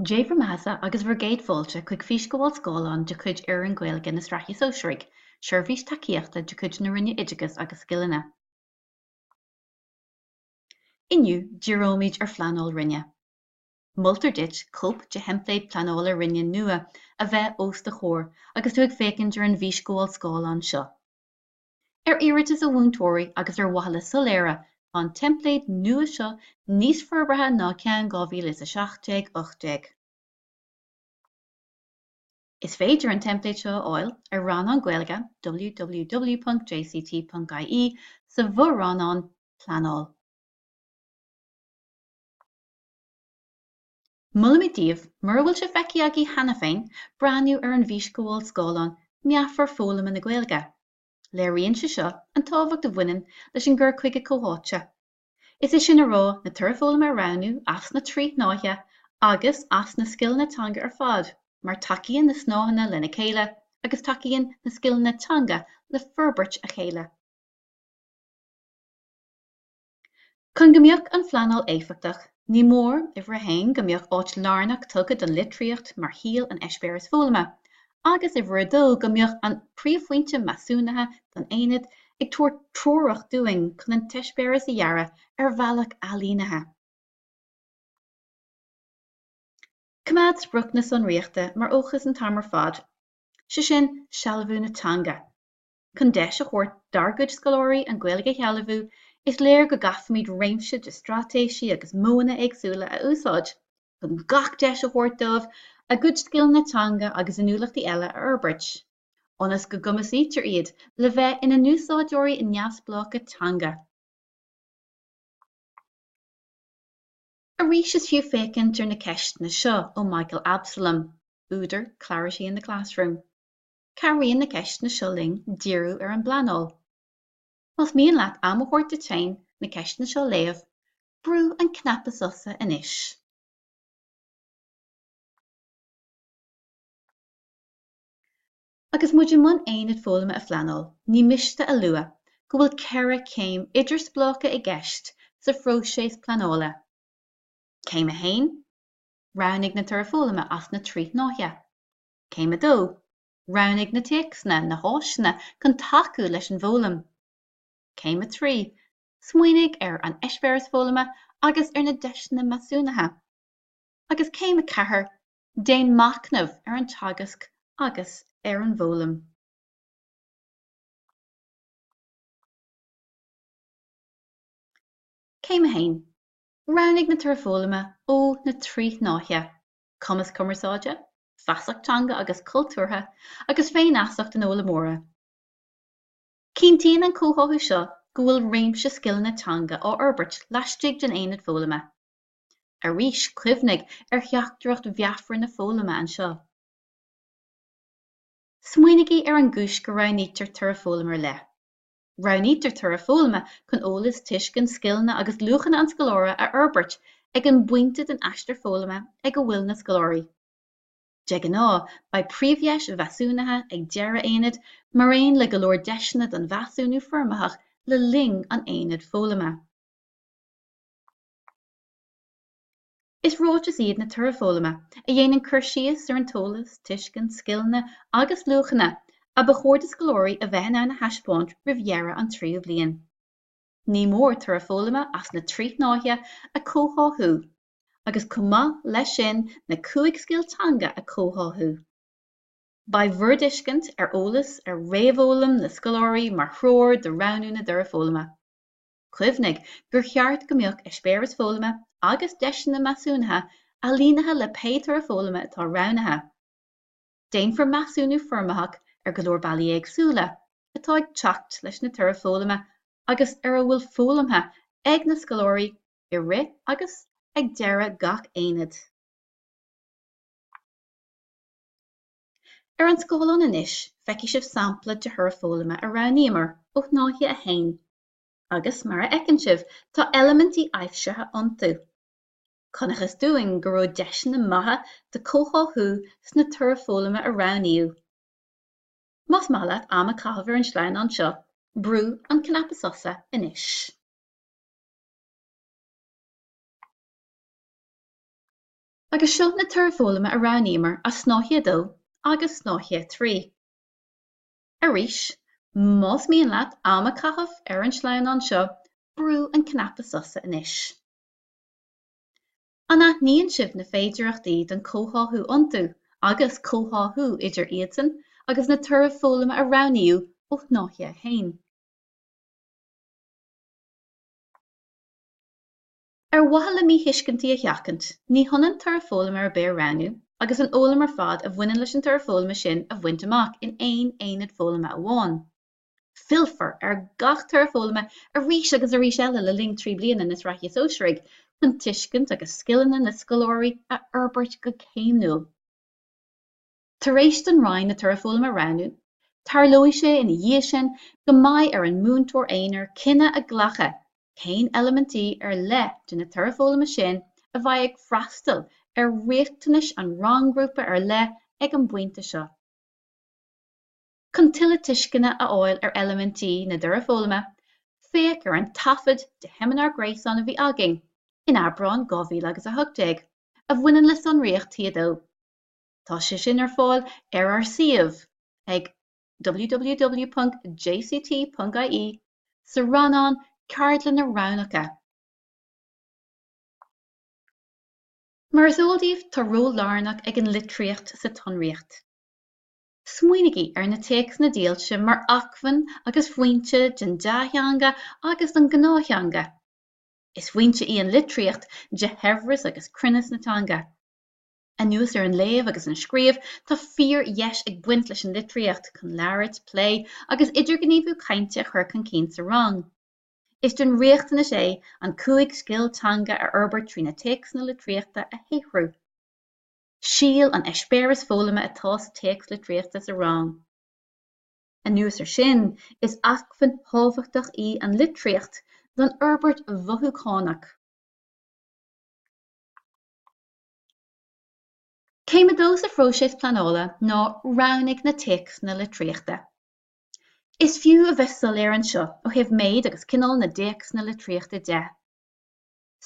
Dé bhur mbeathasa agus bhur gcéad fáilte chuig físghabháil scáileáin de chuid Fhoireann Gaeilge na Sraithe Sóisearaigh, seirbhís tacaíochta de chuid na Roinne Oideachais agus Scileanna. Inniu, díreoimid ar phleanáil roinne. Moltar duit cóip de theimpléad pleanála roinne nua a bheith os do chomhair agus tú ag féachaint ar an bhfísghabháil scáileáin seo. Ar iarratas ó mhúinteoirí agus ar mhaithe le soiléire, tá an teimpléad nua seo níos forbartha ná ceann 2017 18. Is féidir an teimpléad seo a fháil ar rannán Gaeilge www.jct.ie sa bhfo-rannán Pleanáil. Molaimid daoibh, mura bhfuil sé feicthe agaibh cheana féin, breathnú ar an bhfísghabháil scáileáin meafar foghlama na Gaeilge. Léiríonn sé seo an tábhacht a bhaineann leis an gcur chuige comhtháite. Is é sin a rá, na torthaí foghlama a roghnú as na trí shnáithe agus as na scileanna teanga ar fad, mar tacaíonn na snáitheanna lena chéile agus tacaíonn na scileanna teanga le forbairt a chéile. Chun go mbeadh an phleanáil éifeachtach, ní mór, uimhir a haon, go mbeadh áit lárnach tugtha don litríocht mar shíol an eispéiris foghlama, agus, uimhir a dó, go mbeadh an príomhphointe measúnaithe don aonad ag tabhairt treorach dúinn chun an t-eispéireas a dhearadh ar bhealach ailínithe. Coimeád sprioc na sonraíochta mar fhócas an t-am ar fad, sé sin, sealbhú na teanga. Chun deis a thabhairt dár gcuid scoláirí an Ghaeilge a shealbhú, is léir go gcaithfimid réimse de straitéisí agus modhanna éagsúla a úsáid chun gach deis a thabhairt dóibh a gcuid scileanna teanga agus inniúlachtaí eile a fhorbairt, ionas go gcumasaítear iad le bheith ina n-úsáideoirí neamhspleácha teanga. Arís is fiú féachaint ar na ceisteanna seo ó Michael Absolum, údar Clarity in the Classroom. Cabhraíonn na ceisteanna seo linn díriú ar an bpleanáil. Más mian leat am a thabhairt duit féin na ceisteanna seo a léamh, brú an cnaipe sosa anois. Agus muid i mbun aonad foghlama a phleanáil, ní miste a lua go bhfuil ceithre chéim idirspleácha i gceist sa phróiseas pleanála. Céim 1, Roghnaigh na torthaí foghlama as na trí shnáithe. Céim 2, Roghnaigh na téacsanna, na háiseanna chun tacú leis an bhfoghlaim. Céim 3, Smaoinigh ar an eispéireas foghlama agus ar na deiseanna measúnaithe. Agus céim 4, Déan machnamh ar an teagasc agus ar an bhfoghlaim. Céim 1, Roghnaigh na Torthaí Foghlama ó na trí shnáithe. cumas cumarsáide, feasacht teanga agus cultúrtha, agus féinfheasacht an fhoghlaimeora. Cinntíonn an comhtháthú seo go bhfuil réimse scileanna teanga á forbairt laistigh den aonad foghlama. Arís, cuimhnigh ar theachtaireacht mheafar na foghlama anseo. Smaoinigí ar an gcúis go roghnaítear toradh foghlama ar leith. Roghnaítear toradh foghlama chun eolas, tuiscint, scileanna agus luachanna an scoláire a fhorbairt ag an bpointe den aistear foghlama ag a bhfuil na scoláirí. De ghnáth, beidh príomhdheis mheasúnaithe ag deireadh aonaid, mar aon le go leor deiseanna don mheasúnú foirmitheach le linn an aonaid foghlama. Is ráitis iad na Torthaí Foghlama a dhéanann cur síos ar an t-eolas, tuiscint, scileanna agus luachanna a ba chóir do scoláirí a bheith in ann a thaispeáint roimh dheireadh an tríú bliain. Ní mór Torthaí Foghlama as na trí shnáithe a chomhtháthú agus chomh maith leis sin na cúig scil teanga a chomhtháthú. Beidh bhur dtuiscint ar eolas ar réamhfhoghlaim na scoláirí mar threoir do roghnú na dTorthaí Foghlama. Cuimhnigh gur cheart go mbeadh eispéireas foghlama agus deiseanna measúnaithe ailínithe le pé toradh foghlama atá roghnaithe. Déanfar measúnú foirmitheach ar go leor bealaí éagsúla atá ag teacht leis na torthaí foghlama agus ar a bhfuil foghlamtha ag na scoláirí i rith agus ag deireadh gach aonaid. Ar an scáileán anois feicfidh sibh sampla de thoradh foghlama a roghnaíomar ó shnáithe 1. agus mar a fheiceann sibh tá eilimintí aibhsithe iontu. Chonacthas dúinn go raibh deiseanna maithe do chomhtháthú sna torthaí foghlama a roghnaíodh. Más maith leat am a chaitheamh ar an sleamhnán seo, brú an cnaipe sosa anois. Agus seo na torthaí foghlama a roghnaíomar as Snáithe 2 agus Snáithe 3. Arís, más mian leat am a chaitheamh ar an sleamhnán seo, brú an cnaipe sosa anois. An aithníonn sibh na féidireachtaí don chomhtháthú iontu agus comhtháthú idir iadsan agus na torthaí foghlama a roghnaíodh ó shnáithe 1? Ar mhaithe le míthuiscintí a sheachaint, ní hionann toradh foghlama ar bith a roghnú agus an fhoghlaim ar fad a bhaineann leis an toradh foghlama sin a bhaint amach in aon aonad foghlama amháin. Fillfear ar gach toradh foghlama arís agus arís eile le linn trí bliana na Sraithe Sóisearaigh chun tuiscint agus scileanna na scoláirí a fhorbairt go céimniúil. Tar éis don Roinn na toraidh foghlama a roghnú, tarlóidh sé ina dhiaidh sin go mbeidh ar an múinteoir aonair cinneadh a ghlacadh cén eilimintí ar leith de na toraidh foghlama sin a bheidh ag freastal ar riachtanais an rang-ghrúpa ar leith ag an bpointe seo. Chun tuilleadh tuisceana a fháil ar eilimintí na dtoradh foghlama, féach ar an taifead de sheimineár gréasáin a bhí againn in Aibreán 2018 a bhaineann le sonraíocht T2. Tá sé sin ar fáil ar ár suíomh ag www.jct.ie sa rannán Ceardlanna Roghnacha. Mar is eol daoibh, tá ról lárnach ag an litríocht sa tSonraíocht. Smaoinigí ar na téacsanna dílse mar acmhainn agus foinse don dea-theanga agus don gnáth-theanga. Is foinse í an litríocht de shaibhreas agus cruinneas na teanga. Anuas ar an léamh agus an scríobh, tá fíor-dheis ag baint leis an litríocht chun labhairt, plé agus idirghníomhú cainte a chur chun cinn sa rang. Is den riachtanas é an cúig scil teanga a fhorbairt trí na téacsanna litríochta a shaothrú. Síl an eispéireas foghlama atá sa téacs litríochta sa rang. Anuas air sin, is acmhainn thábhachtach í an litríocht don fhorbairt mhothúchánach. Céim a dó sa phróiseas pleanála ná roghnaigh na téacsanna litríochta. Is fiú a bheith soiléir anseo ó thaobh méid agus cineál na dtéacsanna litríochta de.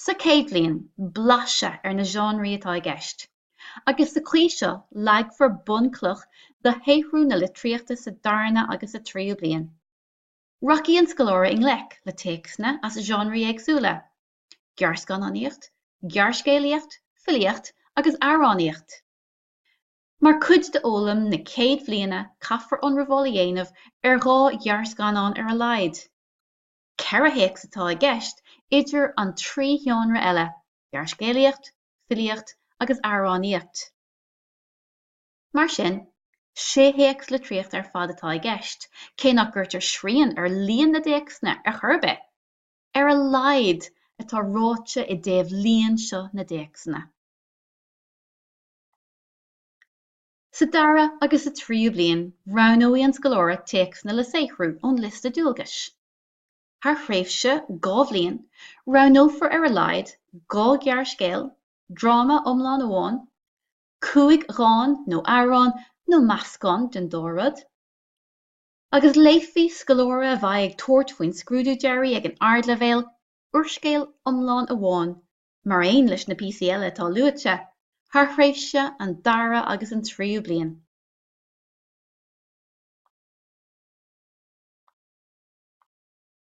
Sa chéad bhliain, blaiseadh ar na seánraí atá i gceist, agus sa chaoi seo leagfar bunchloch do shaothrú na litríochta sa darna agus sa tríú bliain. Rachaidh an scoláire i ngleic le téacsanna as seánraí éagsúla, gearrscannánaíocht, gearrscéalaíocht, filíocht agus amhránaíocht. Mar cuid d'fhoghlaim na céad bhliana caithfear ionramháil a dhéanamh ar dhá ghearrscannán ar a laghad. Ceithre théacs atá i gceist idir an trí sheánra eile, gearrscéalaíocht, filíocht agus amhránaíocht. Mar sin, sé théacs litríochta ar fad atá i gceist, cé nach gcuirtear srian ar líon na dtéacsanna ar chor ar bith. ar a laghad, atá ráite i dtaobh líon seo na dtéacsanna. Sa dara agus sa tríú bliain roghnóidh an scoláire téacsanna le saothrú ón liosta dualgais. Thar thréimhse dhá bhliain roghnófar ar a laghad dhá ghearrscéal, dráma iomlán amháin, cúig dhán nó amhrán nó meascán den dá rud, Agus léifidh scoláire a bheidh ag tabhairt faoin scrúdú deiridh ag an Ardleibhéal úrscéal iomlán amháin, mar aon leis na píosaí eile atá luaite, thar thréimhse an dara agus an tríú bliain.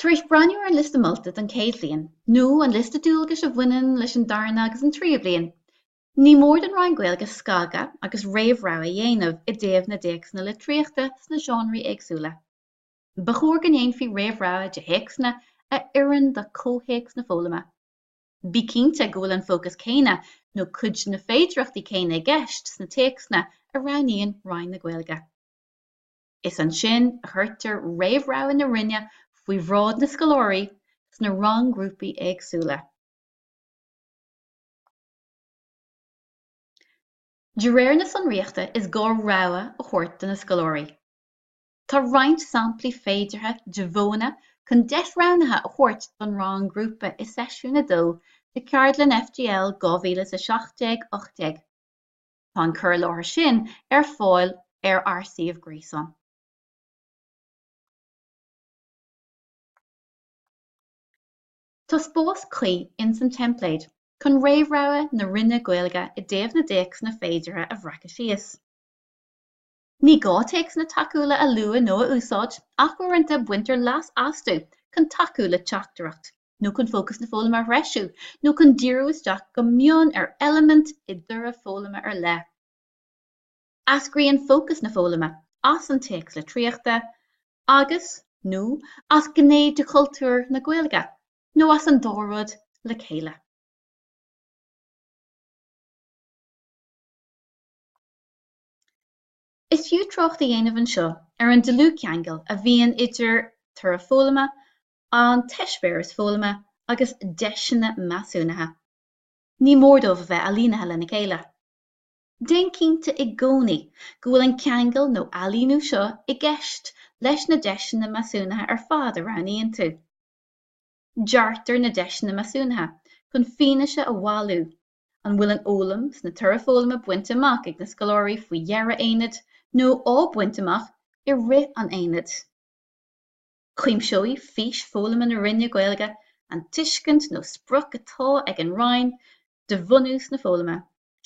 Tar éis breathnú ar an Liosta Molta don chéad bhliain, nó an liosta dualgais a bhaineann leis an darna agus an tríú bliain, ní mór don Roinn Gaeilge scagadh agus réamhrogha a dhéanamh i dtaobh na dtéacsanna litríochta sna seánraí éagsúla. Ba chóir go ndéanfaí réamhrogha de théacsanna a oireann do chomhthéacs na foghlama. Bí cinnte go bhfuil an fócas céanna nó cuid de na féidireachtaí céanna i gceist sna téacsanna a roghnaíonn Roinn na Gaeilge. is ansin a chuirtear réamhrogha na Roinne faoi bhráid na scoláirí sna rang-ghrúpaí éagsúla. De réir na sonraíochta is gá rogha a thabhairt do na scoláirí. Tá roinnt samplaí féideartha de mhodhanna chun deis roghnaithe a thabhairt don rang-ghrúpa i seisiún 2 de Cheardlann FGL 2017 18. Tá an cur i láthair sin ar fáil ar ár suíomh gréasáin. Tá spás cuí ins an teimpléad chun réamhrogha na Roinne Gaeilge i dtaobh na dtéacsanna féideartha a bhreacadh síos. Ní gá téacsanna tacúla a lua nó a úsáid ach uaireanta baintear leas astu chun tacú le teachtaireacht. nó chun fócas na foghlama a threisiú, nó chun díriú isteach go mion ar eilimint i dtoradh foghlama ar leith. Eascraíonn fócas na foghlama as an téacs litríochta agus, nó as gné de chultúr na Gaeilge, nó as an dá rud le chéile. Is fiú trácht a dhéanamh anseo ar an dlúthcheangal a bhíonn idir toradh foghlama an t-eispéireas foghlama agus deiseanna measúnaithe. Ní mór dóibh a bheith ailínithe lena chéile. Déan cinnte i gcónaí go bhfuil an ceangal nó ailíniú seo i gceist leis na deiseanna measúnaithe ar fad a roghnaíonn tú. Deartar na deiseanna measúnaithe chun fianaise a bhailiú an bhfuil an fhoghlaim sna torthaí Foghlama bainte amach ag na scoláirí faoi dheireadh aonaid nó á baint amach i rith an aonaid. Cuimseoidh fís foghlama na Roinne Gaeilge an tuiscint nó sprioc atá ag an Roinn de bhunús na foghlama,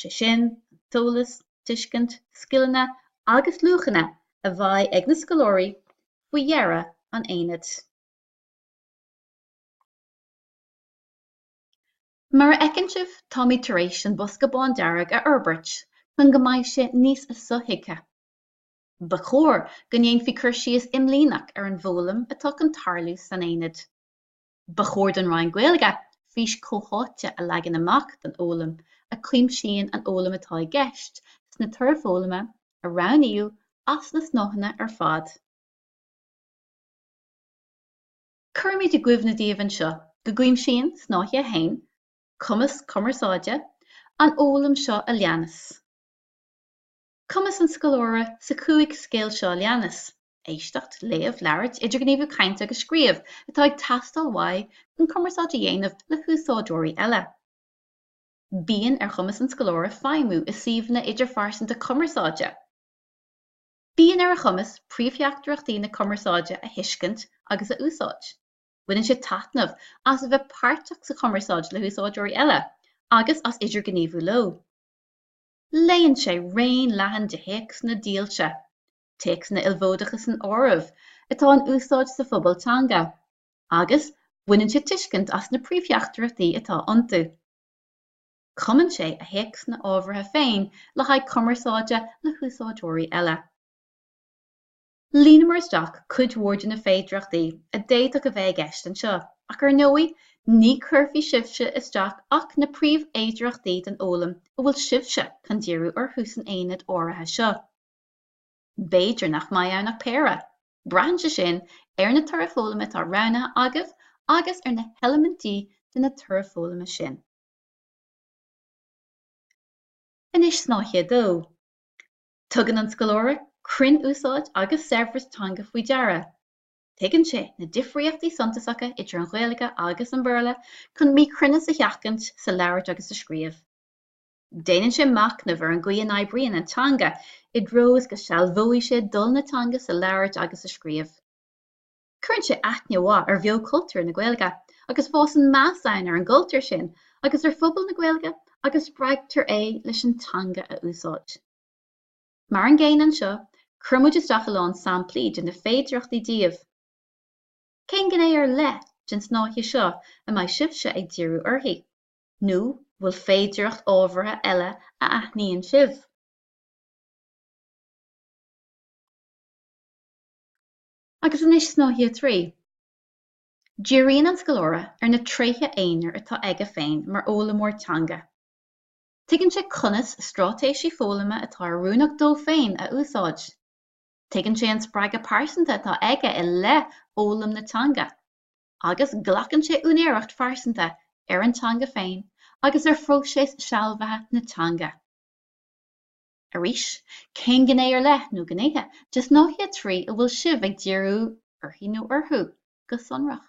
sé sin, an t-eolas, tuiscint, scileanna agus luachanna a bheidh ag na scoláirí faoi dheireadh an aonaid. Mar a fheiceann sibh, táimid tar éis an bosca bándearg a fhorbairt chun go mbeidh sé níos sothuigthe. Ba chóir go ndéanfaí cur síos imlíneach ar an bhfoghlaim atá chun tarlú san aonad. Ba chóir don Roinn Gaeilge fís chomhtháite a leagan amach don fhoghlaim a chuimsíonn an fhoghlaim atá i gceist sna torthaí foghlama a roghnaíodh as na snáitheanna ar fad. Cuirimid i gcuimhne daoibh anseo go gcuimsíonn Snáithe 1, Cumas Cumarsáide, an fhoghlaim seo a leanas. Cumas an scoláire sa chúig scil seo leanas, éisteacht, léamh, labhairt, idirghníomhú cainte agus scríobh, atá ag teastáil uaidh chun cumarsáid a dhéanamh le húsáideoirí eile. Bíonn ar chumas an scoláire feidhmiú i suíomhanna idirphearsanta cumarsáide. Bíonn ar a chumas príomhtheachtaireachtaí na cumarsáide a thuiscint agus a úsáid. Baineann sé taitneamh as a bheith páirteach sa chumarsáid le húsáideoirí eile agus as idirghníomhú leo. Léann sé raon leathan de théacsanna dílse, téacsanna ilmhódacha san áireamh, atá in úsáid sa phobal teanga, agus baineann sé tuiscint as na príomhtheachtaireachtaí atá iontu. Cumann sé a théacsanna ábhartha féin le haghaidh cumarsáide le húsáideoirí eile. Líonamar isteach cuid mhór de na féidearthachtaí a d'fhéadfadh a bheith i gceist anseo, ach ar ndóigh ní chuirfidh sibhse isteach ach na príomhfhéidearthachtaí den fhoghlaim a bhfuil sibhse chun díriú orthu san aonad áirithe seo. B'fhéidir nach mbeidh ann ach péire. Braitheann sé sin ar na torthaí foghlama atá roghnaithe agaibh agus ar na heilimintí de na torthaí foghlama sin. Anois snáithe 2. Tugann an scoláire cruinnúsáid agus saibhreas teanga faoi deara. Tuigeann sé na difríochtaí suntasacha idir an Ghaeilge agus an Béarla chun míchruinneas a sheachaint sa labhairt agus sa scríobh. Déanann sé machnamh ar an gcaoi a n-oibríonn an teanga i dtreo is go sealbhóidh sé dul na teanga sa labhairt agus sa scríobh. Cuireann sé aithne mhaith ar bheochultúr na Gaeilge agus fásann meas ann ar an gcultúr sin agus ar phobal na Gaeilge agus spreagtar é leis an teanga a úsáid. Mar an gcéanna anseo, chuir muid isteach a lán samplaí de na féidearthachtaí daoibh. Cén gné ar leith den snáithe seo a mbeidh sibhse ag díriú uirthi? Nó bhfuil féidearthacht ábhartha eile a aithníonn sibh? Agus anois snáithe 3. Díríonn an scoláire ar na tréithe aonair atá aige féin mar fhoghlaimeoir teanga. Tuigeann sé conas stráitéisí foghlama atá oiriúnach dó féin a úsáid. Tuigeann sé an spreagadh pearsanta atá aige i leith fhoghlaim na teanga. Agus glacann sé úinéireacht phearsanta ar an teanga féin agus ar phróiseas sealbhaithe na teanga. Arís, cén gné ar leith, nó gnéithe, de Shnáithe 3 a bhfuil sibh ag díriú uirthi nó orthu go sonrach?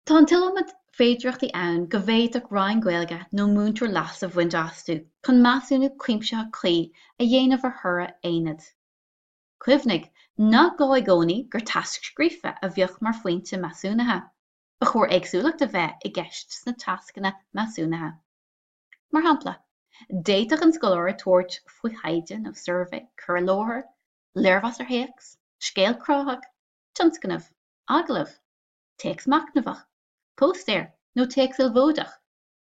Tá an t-iliomad féidearthachtaí ann go bhféadfadh Roinn Gaeilge nó múinteoir leas a bhaint astu chun measúnú cuimsitheach cuí a dhéanamh ar thoradh aonaid. Cuimhnigh nach gá i gcónaí gur tasc scríofa a bheadh mar phointe measúnaithe. Ba chóir éagsúlacht a bheith i gceist sna tascanna measúnaithe. Mar shampla, d'fhéadfadh an scoláire tabhairt faoi thaighde nó suirbhé, cur i láthair, léirmheas ar théacs, scéal cruthaitheach, tionscnamh, agallamh, téacs machnamhach, póstaer nó téacs ilmhódach,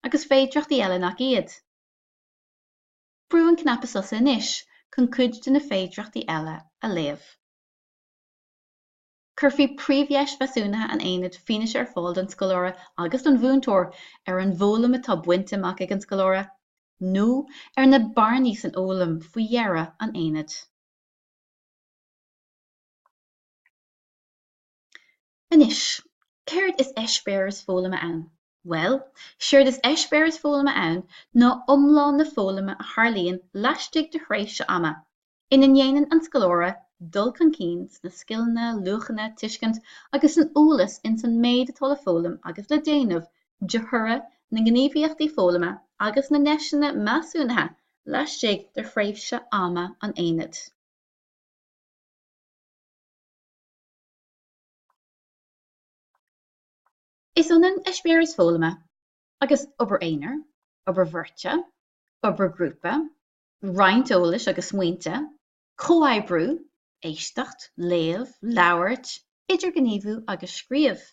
agus féidireachtaí eile nach iad. Brúigh an cnaipe sosa anois chun cuid de na féidireachtaí eile a léamh. Cuirfidh príomhdheis mheasúnaithe an aonaid fianaise ar fáil don scoláire agus don mhúinteoir ar an bhfoghlaim atá bainte amach ag an scoláire nó ar na bearnaí san fhoghlaim faoi dheireadh an aonaid. Anois, céard is eispéireas foghlama ann? Bhuel, séard is eispéireas foghlama ann ná iomlán na foghlama a tharlaíonn laistigh de thréimhse ama ina ndéanann an scoláire dul chun cinn sna scileanna, luachanna, tuiscint agus san eolas ins an méid atá le foghlaim agus le déanamh de thoradh na ngníomhaíochtaí foghlama agus na ndeiseanna measúnaithe laistigh de thréimhse ama an aonaid. Is ionann eispéireas foghlama agus obair aonair, obair bheirte, obair grúpa, roinnt eolais agus smaointe, comhoibriú, éisteacht, léamh, labhairt, idirghníomhú agus scríobh.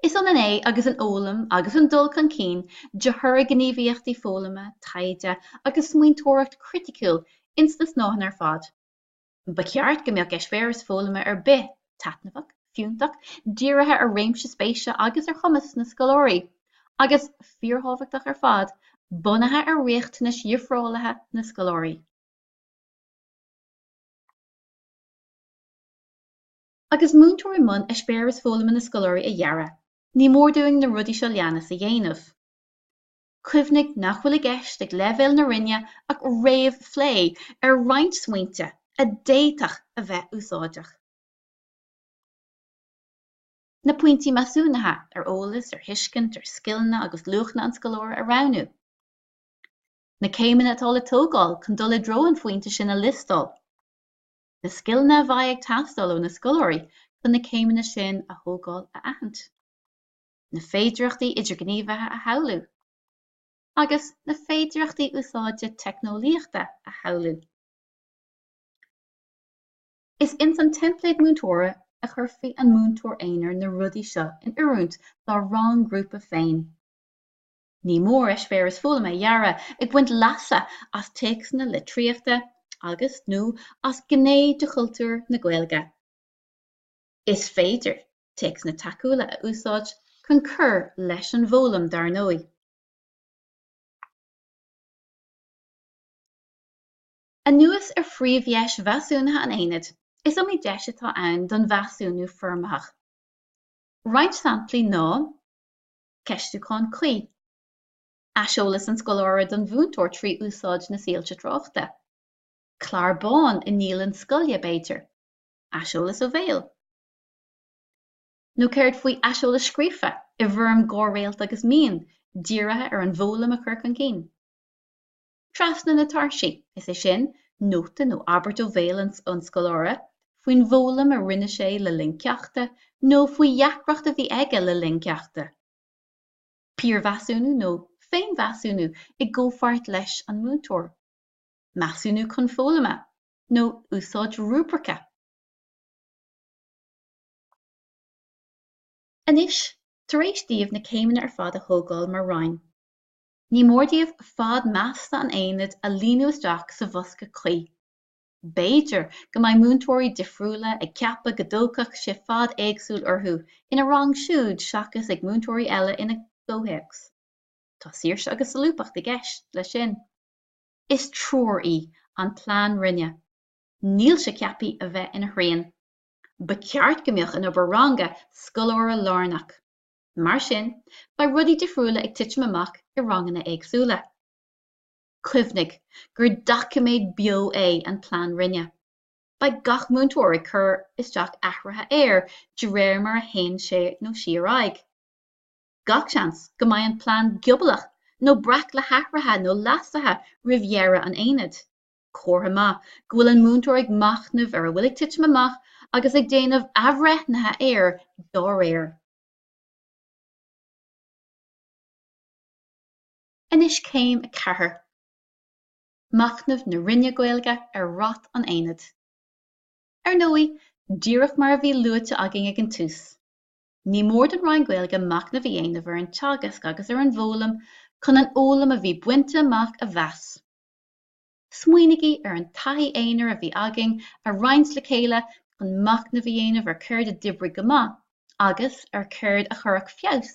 Is ionann é agus an fhoghlaim agus an dul chun cinn de thoradh gníomhaíochtaí foghlama, taighde agus smaointeoireacht chriticiúil ins na snáitheanna ar fad. Ba cheart go mbeadh eispéireas foghlama ar bith taitneamhach, fiúntach, dírithe ar réimse spéise agus ar chumas na scoláirí, agus, fíorthábhachtach ar fad, bunaithe ar riachtanais dhifreálaithe na scoláirí. Agus múinteoirí i mbun eispéireas foghlama na scoláirí a dhearadh, ní mór dúinn na rudaí seo leanas a dhéanamh. Cuimhnigh nach bhfuil i gceist ag leibhéal na Roinne ach réamhphlé ar roinnt smaointe a d'fhéadfadh a bheith úsáideach. Na pointí measúnaithe ar eolas, ar thuiscint, ar scileanna agus luachanna an scoláire a roghnú. Na céimeanna atá le tógáil chun dul i dtreo an phointe sin a liostáil. Na scileanna a bheidh ag teastáil ó na scoláirí chun na céimeanna sin a thógáil a aithint. na féidearthachtaí idirgníomhaithe a shamhlú, agus na féidearthachtaí úsáide teicneolaíochta a shamhlú. Is ins an teimpléad múinteora a chuirfidh an múinteoir aonair na rudaí seo in oiriúint dá rang-ghrúpa féin. Ní mór eispéireas foghlama a dhearadh ag baint leasa as téacsanna litríochta agus, nó as gné de chultúr na Gaeilge. Is féidir. téacsanna tacúla a úsáid chun cur leis an bhfoghlaim dar ndóigh. Anuas ar phríomhdheis mheasúnaithe an aonaid, is iomaí deis atá ann don mheasúnú foirmitheach. Roinnt samplaí ná, ceistiúchán cuí, aiseolas an scoláire don mhúinteoir trí úsáid na soilse tráchta, clár bán i ndialann scoile, b'fhéidir, aiseolas ó bhéal. Nó céard faoi aiseolas scríofa, i bhfoirm dhá réalt agus mian, dírithe ar an bhfoghlaim a chur chun cinn? Trasna na tairsí, is é sin, nóta nó abairt ó bhéal an scoláire faoin bhfoghlaim a rinne sé le linn ceachta nó faoi dheacracht a bhí aige le linn ceachta. Piarmheasúnú nó féinmheasúnú i gcomhpháirt leis an múinteoir. Measúnú chun foghlama, nó úsáid rúibrice. Anois, tar éis daoibh na céimeanna ar fad a thógáil mar roinn, ní mór daoibh fad measta an aonaid a líonadh isteach sa bhosca cuí. B'fhéidir go mbeidh múinteoirí difriúla ag ceapadh go dtógfadh sé fad éagsúil orthu ina rang siúd seachas ag múinteoirí eile ina gcomhthéacs. Tá saoirse agus solúbthacht i gceist leis sin. Is treoir í an plean roinne. Níl sé ceaptha a bheith ina shrian. Ba cheart go mbeadh an obair ranga scoláirelárnach. Mar sin, beidh rudaí difriúla ag titim amach i ranganna éagsúla. Cuimhnigh gur doiciméad beo é an Plean Roinne. Beidh gach múinteoir ag cur isteach athruithe air de réir mar a théann sé nó sí ar aghaidh. Gach seans go mbeidh an plean giobalach nó breac le hathruithe nó leasuithe roimh dheireadh an aonaid. Comhartha maith go bhfuil an múinteoir ag machnamh ar a bhfuil ag titim amach agus ag déanamh athbhreithnithe air dá réir. Anois céim 4. Machnamh na Roinne Gaeilge ar rath an aonaid. Ar ndóigh, díreach mar a bhí luaite againn ag an tús, ní mór don Roinn Gaeilge machnamh a dhéanamh ar an teagasc agus ar an bhfoghlaim chun an fhoghlaim a bhí bainte amach a mheas. Smaoinigí ar an taithí aonair a bhí againn a roinnt le chéile chun machnamh a dhéanamh ar céard a d'oibrigh go maith agus ar céard a chuirfeadh feabhas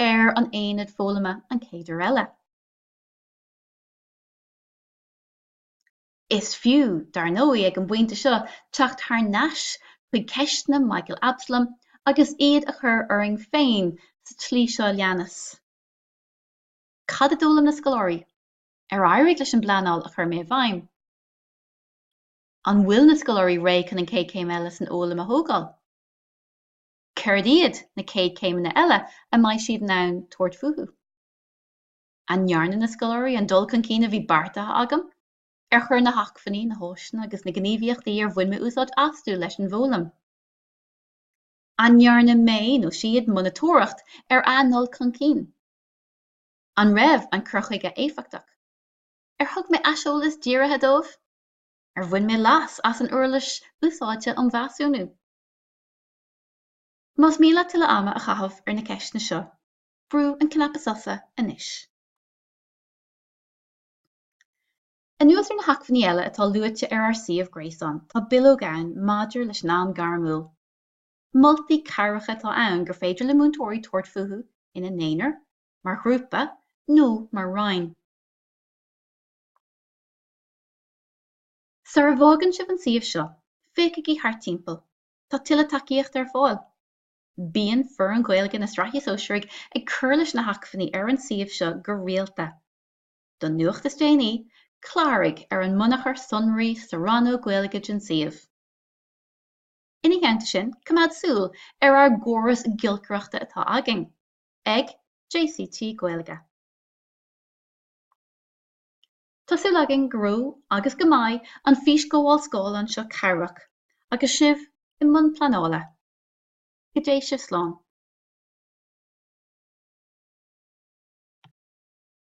ar an aonad foghlama an chéad uair eile. Is fiú, dar ndóigh, ag an bpointe seo teacht thar n-ais chuig ceisteanna Michael Absalom agus iad a chur orainn féin sa tslí seo a leanas, Cad a d'fhoghlaim na scoláirí? Ar éirigh leis an bpleanáil a chuir mé i bhfeidhm? An bhfuil na scoláirí réidh chun an chéad chéim eile san fhoghlaim a thógáil? Céard iad na chéad chéimeanna eile a mbeidh siad in ann tabhairt fúthu? An ndearna na scoláirí an dul chun cinn a bhí beartaithe agam? Ar chuir na hacmhainní, na háiseanna agus na gníomhaíochtaí ar bhain mé úsáid astu leis an bhfoghlaim? An ndearna mé nó siad monatóireacht ar a ndul chun cinn? An raibh an cur chuige éifeachtach? Ar thug mé aiseolas dírithe dóibh? Ar bhain mé leas as an uirlis úsáide um mheasúnú? Más mian leat tuilleadh ama a chaitheamh ar na ceisteanna seo, brú an cnaipe sosa anois. Anuas ar na hacmhainní eile atá luaite ar ár suíomh gréasáin tá bileog ann maidir leis an am gairmiúil. Moltaí cabhracha atá ann gur féidir le múinteoirí tabhairt fúthu ina n-aonar, mar ghrúpa nó mar roinn. Sar a bhfágann sibh an suíomh seo, féachaigí thart timpeall, tá tuilleadh tacaíochta ar fáil. Bíonn Foireann Ghaeilge na Sraithe Sóisearaigh ag cur leis na hacmhainní ar an suíomh seo go rialta. Don nuacht is déanaí, cláraigh ar an mbunachar sonraí sa rannóg Gaeilge den suíomh. Ina theannta sin, coimeád súil ar ár gcóras giolcaireachta atá againn. ag JCT Gaeilge. Tá súil againn go raibh agus go mbeidh an fhísghabháil scáileáin seo cabhrach agus sibh i mbun pleanála. Go dté sibh slán.